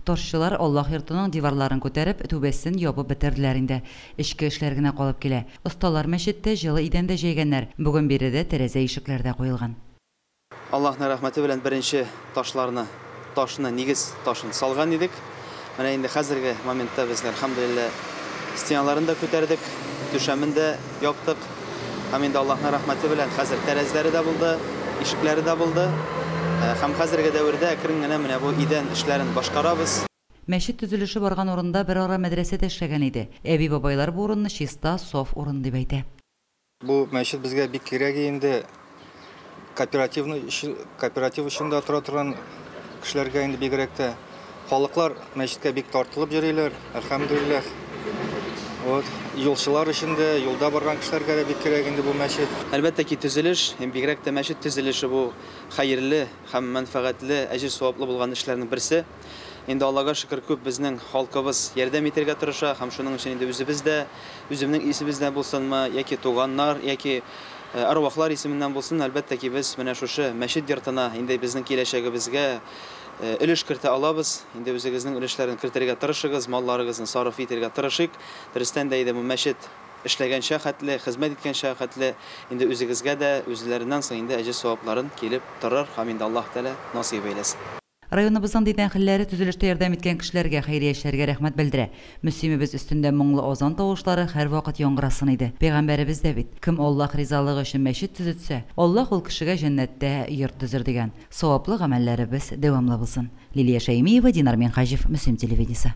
Тарчылар Аллаһ йортының диварларын күтәреп, түбәсен ябып бетерделәр инде. Эчке эшләр генә калып килә. Осталар мәчеттә җылы идән дә җәйгәннәр, бүген биредә тәрәзә-ишекләр дә куелган. Аллаһның рәхмәте белән беренче ташларны, ташны, нигез ташын салган идек. Менә инде хәзерге моментта без, әлхәмдүлилләһ, стеналарын да күтәрдек, түшәмен дә яптык. Һәм инде Аллаһның рәхмәте белән хәзер тәрәзләре дә булды, ишекләре дә булды. Һәм хәзерге дәвердә әкрен генә менә бу идән эшләрен башкарабыз. Мәчет төзелеше барган урында берара мәдрәсә дә эшләгән иде. Әби-бабайлар бу урынны чиста, саф урын дип әйтә. Бу мәчет безгә бик кирәге инде. кооперативный өчен, кооператив өчен дә тора торган кешеләргә инде бигрәк тә. Халыклар мәчеткә бик тартылып йөриләр, әлхәмдулиллах. Вот, юлчылар өчен дә, юлда барган кешеләргә дә бик кирәк инде бу мәчет. Әлбәттә ки, төзелеш, һәм бигрәк тә мәчет төзелеше бу хәерле һәм мәнфәгатьле, әҗер-саваплы булган эшләрнең берсе. Инде Аллага шөкер, күп безнең халкыбыз ярдәм итәргә тырыша һәм шуның өчен инде үзебез дә, үземнең исемебездән булсынмы, яки туганнар, яки әрвахлар исеменнән булсын, әлбәттә ки, без менә шушы мәчет йортына инде безнең киләчәгебезгә өлеш кертә алабыз. Инде үзегезнең өлешләрен кертергә тырышыгыз, малларыгызны сарыф итергә тырышыйк. Дөрестән дә иде бу мәчет эшләгәнчә хәтле, хезмәт иткәнчә хәтле инде үзегезгә дә үзләреннән соң инде әҗер-савапларын килеп торыр һәм инде Аллаһ Тәгалә насыйп әйләсен. Районыбызның дин әһелләре төзелештә ярдәм иткән кешеләргә, хәйриячеләргә рәхмәт белдерә. Мөслимебез өстендә моңлы азан тавышлары һәрвакыт яңгырасын иде. Пәйгамбәребез дә бит, Кем Аллаһ ризалыгы өчен мәчет төзетсә, Аллаһ ул кешегә җәннәттә йорт төзер, дигән. Саваплы гамәлләребез дәвамлы булсын. Лилия Шәймиева, Динар Минһаҗев, Мөслим телевидениесе.